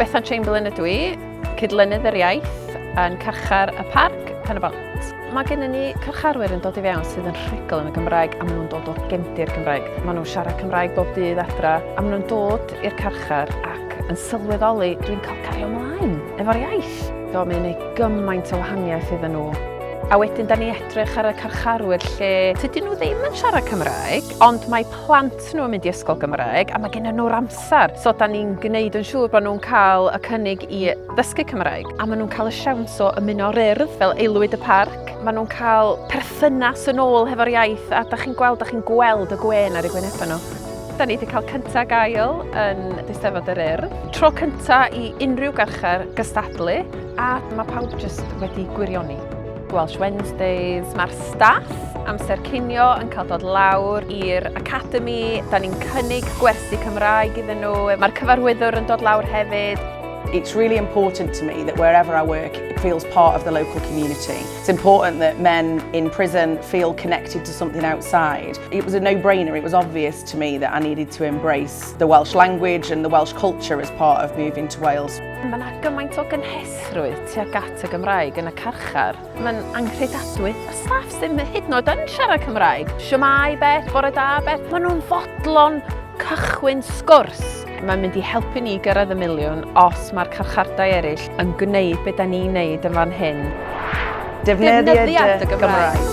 Bethan Chamberlain ydw i, cydlynydd yr iaith yn carchar y parc pen y bont. Mae gen ni carcharwyr yn dod i fewn sydd yn rhugl yn y Gymraeg a maen nhw'n dod o gefndir Gymraeg. Maen nhw'n siarad Cymraeg bob dydd adra a maen nhw'n dod i'r carchar ac yn sylweddoli dwi'n cael cario ymlaen efo'r iaith. eraill. Do, mae'n ei gymaint o wahaniaeth iddyn nhw. A wedyn da ni edrych ar y carcharwyr lle tydyn nhw ddim yn siarad Cymraeg, ond mae plant nhw yn mynd i ysgol Gymraeg a mae gen nhw'r amser. So da ni'n gwneud yn siŵr bod nhw'n cael y cynnig i ddysgu Cymraeg. A maen nhw'n cael y siawns o ymuno o'r urdd fel aelwyd y parc. Maen nhw'n cael perthynas yn ôl hefo'r iaith a da chi'n gweld, da chi'n gweld y gwên ar eu gwynebau nhw. Da ni wedi cael cyntaf gael yn Eisteddfod yr Urdd. Tro cyntaf i unrhyw garchar gystadlu a mae pawb jyst wedi gwirioni. Welsh Wednesdays. Mae'r staff amser cinio yn cael dod lawr i'r Academy. Da ni'n cynnig gwersi Cymraeg iddyn nhw. Mae'r cyfarwyddwr yn dod lawr hefyd. It's really important to me that wherever I work, it feels part of the local community. It's important that men in prison feel connected to something outside. It was a no-brainer, it was obvious to me that I needed to embrace the Welsh language and the Welsh culture as part of moving to Wales. Mae yna gymaint o gynhesrwydd tuag at y Gymraeg yn y carchar. Mae'n anghredadwy. Y staff sy'n hyd yn oed yn siarad Cymraeg. Siamai, bet, bore da, bet. Maen nhw'n fodlon cychwyn sgwrs. Mae'n mynd i helpu ni gyrraedd y miliwn os mae'r carchardai eraill yn gwneud beth da ni'n neud yn fan hyn. Defnyddia dy Gymraeg.